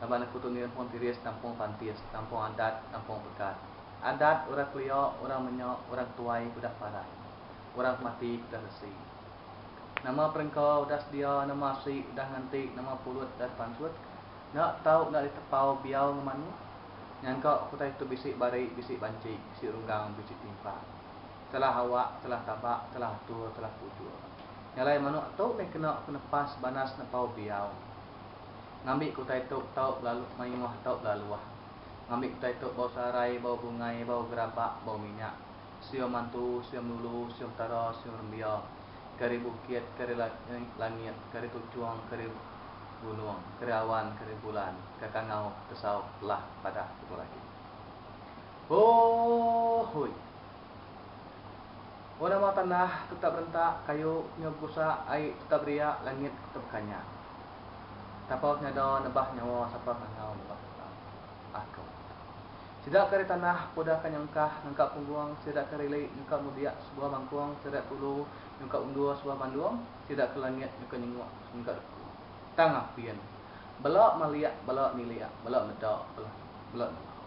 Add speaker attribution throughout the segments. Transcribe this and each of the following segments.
Speaker 1: Laban aku tu nirhun Tiris nampung Pantis, nampung Adat, nampung Pekat. Adat, orang kelia, orang menya, orang tuai ke udah parai. Orang ke mati ke udah resi. Nama perengka udah sedia, nama asi udah nganti, nama pulut udah dipanchut. Enda tau enda ditepau biau enggau manuk. Nyangka utai tu bisi bari, bisi banchi, bisi runggang, bisi timpang. Salah awak, salah tabak, salah atur, salah pujur. Nya alai manuk tu meh kena penepas banas nepau biau. Ngambi ke utai tu tau belalu mayuh tau belaluh. Ngambi ke utai tu bau searai, bau bungai, bau gerabak, bau minyak. Siung mantu, siung lulu, siung petara, siung rembia. Keri bukit, keri langit, keri tuchung, keri gunung, keri awan, keri bulan, kekangau, kesau, lah padah tutuh lagi. Hoooooi. Orang mau tanah tetap berentak, kayu nyau begusak, ai tetap beriak, langit tetap bekanyak. Tapau senada nebah nyawa sapa randau nebah kita. Aku. Sida ke ari tanah puda ke nyengkah nengka punggung, sida ke ari li nyuka mudik sebuah mangkung, sida ke ulu nyuka undur sebuah bandung, sida ke langit nyuka nyenguk nyuka duku. Tang apin. Bela malik, bela nilik, bela meda, bela nengau.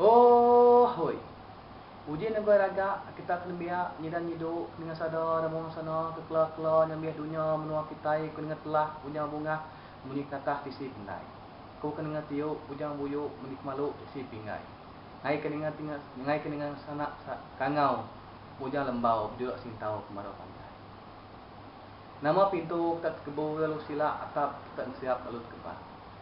Speaker 1: Ooh hui. Uji negoi raga kita ke nembiak nyidan nyidu ke ninga sada dan muang sana ke kela kela nyambih dunya menua kitai ke ninga telah Ujang Bungah munyi kenatah tisi pendai ku ke ninga tiu Ujang Buyu munyi kemalu tisi pinggai ngai ke ninga tinga ngai ke ninga sanak sa kangau Ujang Lembau bejulak singtau ke marau panjai nama pintu ke tak tekebu lalu silak atap ke tak ngeseap lalu tekebat.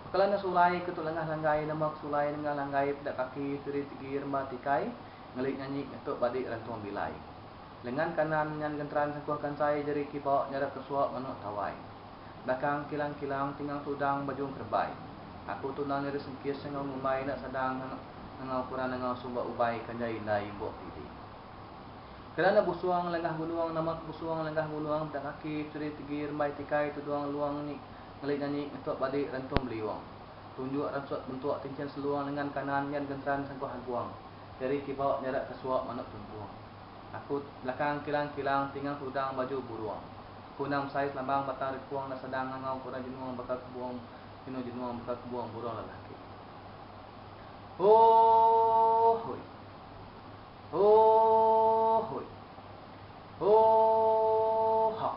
Speaker 1: Pekelana sulai ke tu lengah langgai nama ke sulai nengah langgai peda kaki tiri tegi remba tikai ngeli nyanyi ngetuk badi rantung bilai. Lengan kanan nyan genteran sengkuh kansai jeri kiba nyarap ke suak manuk tawai. Belakang kilang kilang tingang tudang bajung kerebai. Aku tu nang nyeri sengkis enggau ngumbai enda sadang ngengau kurang nengau sumba ubai ke enjai indai imbuk pidi. Pekelana busung lengah gunung nama ke busung lengah gunung peda kaki tiri tegi rembai tikai tudung luang nyi ngelit nyanyi ngetuk badi rentung beliung. Tunjuk ransut bentuk tinchin seluang lengan kanan nyan genteran sangkuh agung. Jari kibau nyara kesuap manuk tuntung. Aku belakang kilang-kilang tingang tudang baju burung. Aku nang besais lambang batang rekung enda sadang ngangau ke orang jenung baka kebung jenung jenung baka kebung burung lelaki. Hoooooi. Hoooooi. Hoooohoo.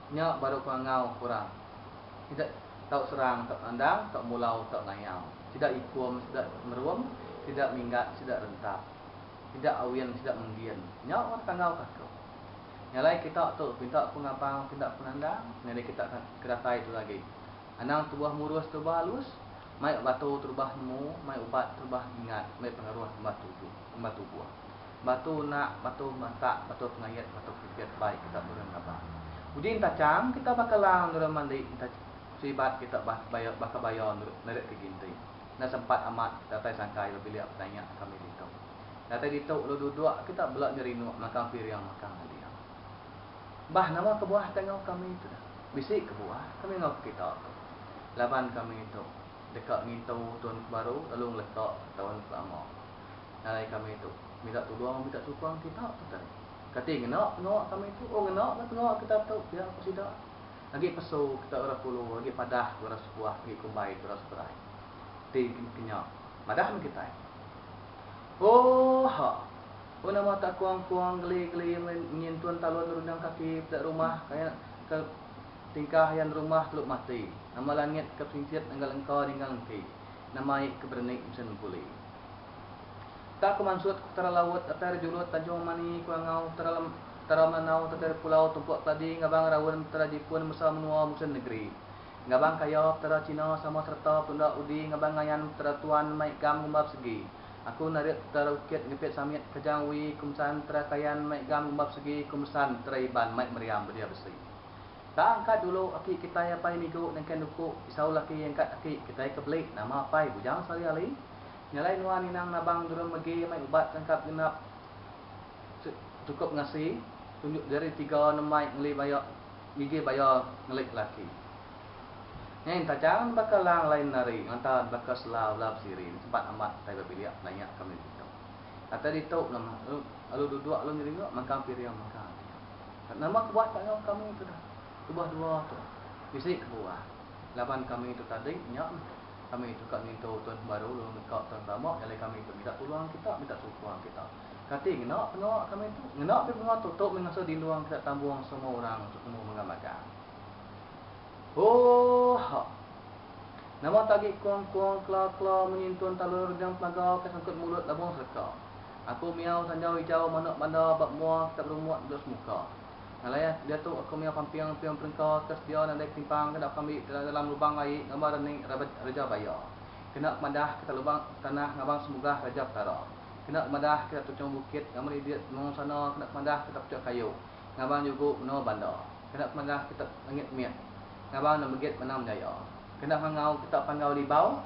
Speaker 1: Nya baru pengangau kurang. Sida tau serang tau nandang tau mulau tau ngayau. Sida ikum sida merum sida minggat sida rentap. Sida awin sida menggin. Nya orang tangau ka aku. Nyalai kita tu pinta ku ngabang pinta ku nandang nyadi kita ka ke datai tu agi. Anang tubuh murus terubah alus, mai batu terubah nemu, mai ubat terubah ingat, mai pengaruh ngemba tubuh. Batu unak, batu matak, batu pengayat, batu pipit bai kita nurun rabak. Uji enta cham kita baka lang nurun mandi enta selibat kita bah baya baka baya nerek ke ginti. Enda sempat amat datai sangkai ba bilik penanya kami ditu. Datai ditu ulu duduk kita bela nyerinuk makang piring makang nading. Bah nama kebuah ke enggau kami tu dah. Bisi kebuah kami enggau ke kita tu. Laban kami tu deka ngintu tun ke baru lalu ngeleka tun ke lama. Ngalai kami tu. Minta tulung minta sukung kita tutai. Kati ngena pengawa kami tu. Oh ngena meh pengawa kita tu pia ku sida. Agi pesu kita orang Kulu agi padah orang Sepuah agi kumbai orang Seberai ti kenya madah meh kitai. Oh ha. Oh nama tak kuang-kuang geli-geli nyin tun talun rundang kaki peda rumah kaya ke tingkah yan rumah teluk mati. Nama langit ke perintit enggal engka ninggal enti. Nama ai ke bereni mesen buli. Ka Kemansut, Utara Laut, Datai Rejulut, Tanjung Mani, Kulangau, Utara Lem, Utara Melanau, Datai Repulau, Tumpuk Keladi, Ngabang Raun, Petara Jipun, Mesau Menua, Musin Negeri. Ngabang Kaya, Petara Cina, Sama Sereta, Petunda Udi, Ngabang Ngayan, Petara Tuan, Mai Gam, Gumbar Segi. Aku Narit, Petara Bukit, Ngepit Samit, Kajang Wi, Kumsan, Petara Kayan, Mai Gam, Gumbar Segi, Kumesan, Petara Iban, Mai Meriam, Bedia Besi. Tang ka dulu aki kitai apai migu nengkah nuku pisau laki engkat aki kitai ke beli nama apai bujang sehari hari nyalai nuan inang nabang durung megi mai ubat tangkap genap cukup ngasi tunjuk jari tiga nembai ngeli baya ngigi baya ngelik laki nyain tajam nebaka lang lain nari ngelanta nebaka sela bela besiri ni sempat amat kitai bebilik penanya kami ditu kata ditu nama lalu duduk lalu nyeringok mangkang piring mangkang. Nama ke buat ka enggau kami tu dah tubah dua tu. Bisi ke buah. Laban kami tu tadi nya meh. Kami tu ka ngintu tuan pembaru lalu neka tuan pelama nyalai kami tu minta tulung kita, minta sukung kita. Kati ngena penua kami tu? Ngena mih penua tu, tu mih ngasuh dindung kita tambung semua orang tu nemu mega magang. Hooha. Nama ke agi kong-kong, kla-kla, menyintun talur enggau pelaga ke sangkut mulut labung serka. Aku miau sanjau ijau manok banda ba mua kitab rumok dudok semuka. Ngalai ah, diatu aku miau pamping piung perengka ke sedia nadai ketimpang ke dapka meri ke dalam lubang laie ngamba rening Rabet Reja Baya. Kena kemadah kita lubang tanah ngabang semugah Raja Petara. Kena kemadah kita tuchong bukit ngameri dia temu sana kena kemadah kita puchok kayu ngabang jugu menoa banda. Kena kemadah kita langit mit ngabang nemegit menang menjaya. Kena ngangau kita panggau libau.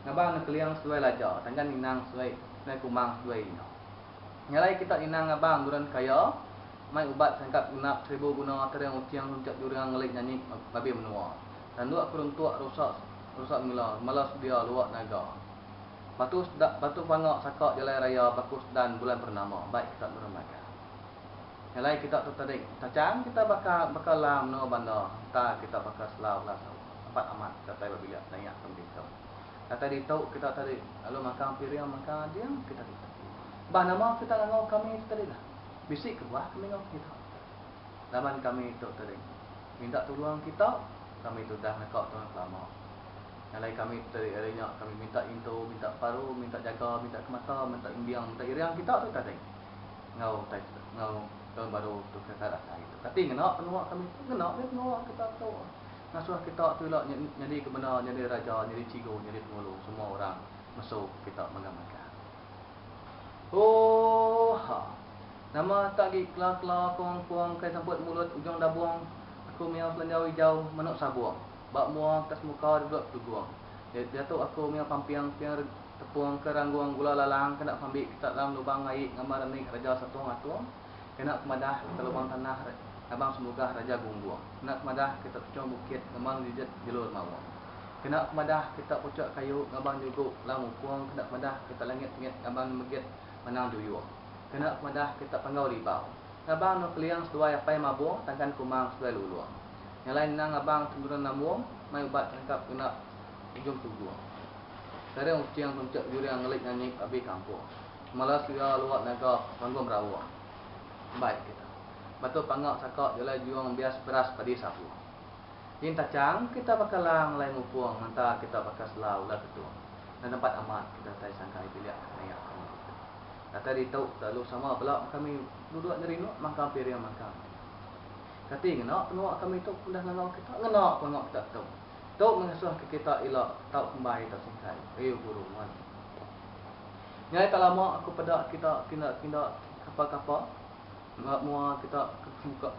Speaker 1: Ngabang enda keliang seduai laja, tanggan ninang seduai seduai kumang seduai ina. Ngalai kita ninang ngabang buran kaya, mai ubat sangkap genap seribu guna tering uting runcat jurang ngelik nyanyi babi menua, nanduk ke runtuk rusak rusak mila mala sedia luak naga. Batu sedak batu panga saka jalai raya baku sedan bulan pernama baik kita buran bagan. Ngalai kita tetering tachang kita baka baka la menua bandar enta kita baka selau la sawa. Amat amat datai babila nayak ke meri tau. Datai ditu kita tadi lalu makang piring maka ading kita ditu. Bah nama kita ngangau kami tu tadi lah. Bisi kebuah kami ngau kita. Laban kami tu tadi minta tulung kita kami tu udah neka tuan kelama. Ngalai kami tu tadi ari nya kami minta intu minta paru minta jaga minta kemata minta imbing minta iring kita tu tadi. Ngau utai tu ngau taun baru tu kita datai tu. Kati ngena penua kami tu ngena meh penua kita tu. Ngasuh kita tu ila nyadi ke bendar nyadi raja nyadi cigu nyadi pengulu semua orang mesu kita mega mega. Ooh ha. Nama tak gi kla kla kong kong kai semput mulut ujung dabung aku mia kelenjau ijau menu sabung ba mua ke semuka duduk tugung diatu aku mia pamping ping tepung ke ranggung gula lalang kena pambi kita dalam lubang ngaik ngambar ni raja satung atung. Kena ku madah ke lubang tanah Abang Semugah Raja Gunggong. Kena ku madah ke tak tuchong bukit ngemang nyerejet jalur mawong. Kena ku madah ke tak puchok kayu ngabang nyugu lau mupong kena ku madah ke tak langit mit ngabang nemegit manang juyung. Kena ku madah ke tak panggau ribau. Ngabang no keling seduai apai mabong tangkan kumang seduai lulong. Nyalai ngenang ngabang temurun nambong mai ubat terengkap kena ujung tugung. Sering ucing tunchek juring ngelit nyanyi ke abi kampong. Malas ku iya luat naga panggung berawa. Baik kita. Batu panga saka jalai jung bias beras padi sapu. Nyin tachang kita baka lang alai mupung menta kita baka sela ular ketung. Enda tempat amat kita datai sangkai bilik ke nayak ke meri tu. Datai ditu udah lalu sama bela kami duduk nyerinuk mangkang piring mangkang meri. Kati ngena penua kami tu udah ngangau kita? Ngena pun enggau kita tu. Tu mengasuhka kita ila tau kembai tau singkai. Ayu guru meri. Nyai tak lama aku peda kita kinda-kinda kapa-kapa ngehap mua kita ke semuka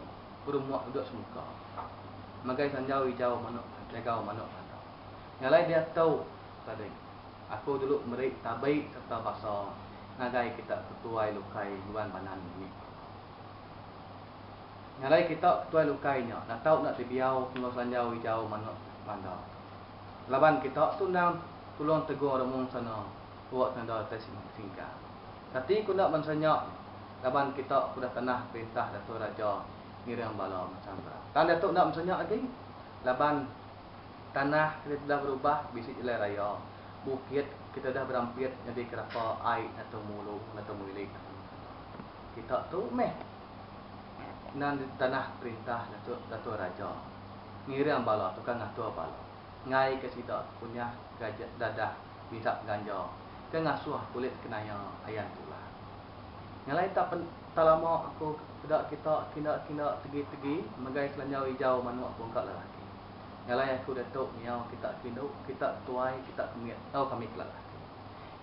Speaker 1: berumah udah semuka. Magai sanjau ijau manok jagau manok belanda. Nya alai diat tu tadi. Aku dulu meri tabi serta basa ngagai kita ke tuai lukai nguan banan nyi. Nya alai kita ke tuai lukai nya natau enda tebiau enggau sanjau ijau manok belanda. Laban kita tu endang tulong tegur remung sana. Tuak nanda utai sinu singka. Kati ku enda bansa nya laban kita ke udah tanah perintah dato raja ngiring bala macam ka. Tang diatu enda bansa nya agi laban tanah kita udah berubah bisi jalai raya, bukit kita udah berampit nyadi kerapa ai dato mulu dato milik aku nya sapa. Kita tu meh nan di tanah perintah dato dato raja ngiring bala tukang ngatur bala. Ngai ke sida kunyah gaja dadah minta ganja ke ngasuh kulit kenaya ayan tulah. Ngalai ta pen ta lama aku peda kita kinda kinda tegi tegi megai selanjau ijau manuk bungka lelaki. Ngalai aku datu miau kita kindu kita ketuai kita kemit tau kami ke lelaki.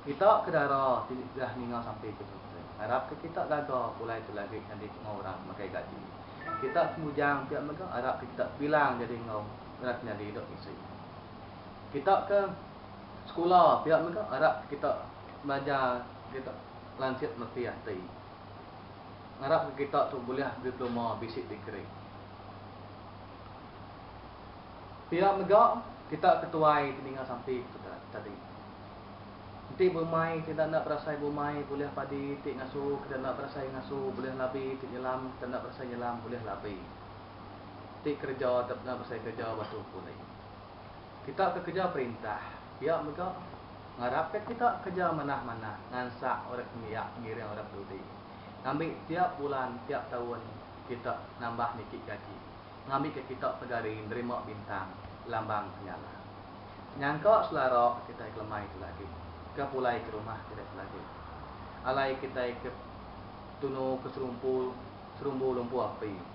Speaker 1: Kita ke dara ti degah ninga sampi ke tu te ngarap ke kita gaga pulai tu lagi nyadi enggau orang megai gaji. Kita ke bujang pia mega arap ke kita bilang jadi enggau. ngena ke nyadi idup bisi. Kita ke sekula pia mega arap ke kita belajar kita lansik meti ati. Ngarap ke kita tu bulih diploma bisi degree. Pia mega kita ke tuai ti ninga sampi tu tadi. Enti bumai ti enda enda berasai bumai bulih padi enti ngasu ke enda enda berasai ngasu bulih labi enti nyelam ke enda enda berasai nyelam bulih labi. ti kereja atau pun besai kereja ba tu pulai. Kita ke kereja perintah pia mega ngarap ka kita kereja manah-manah ngansak orang ke nembiak pengiring orang peduli ngambi tiap bulan tiap taun kita nambah niki gaji ngambi ka kita negari nerima bintang lambang penyala nyangka selara kitai kelemai tu lagi ke pulai ke rumah kitai tu lagi alai kitai ke tunu ke serumpu serumbu lumpu api.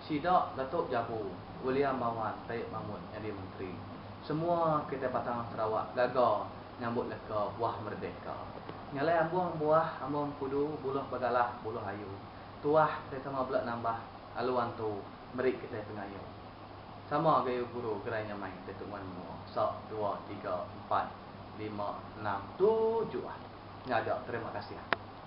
Speaker 1: Sida Datuk Jabu, William Bawan Taib Mamut nyadi menteri. Semua kitai Batang Sarawak gaga nyambut leka buah merdeka. Nyalai ambung buah ambung kudu buluh bagalah buluh ayu. Tuah kitai sama bela nambah lalu antu meri kitai pengayo. Sama gayu guru gerai nyamai deh tu nguan menua. Sa, dua, tiga, empat, lima, enam, tujuh. Ngaga terima kasih.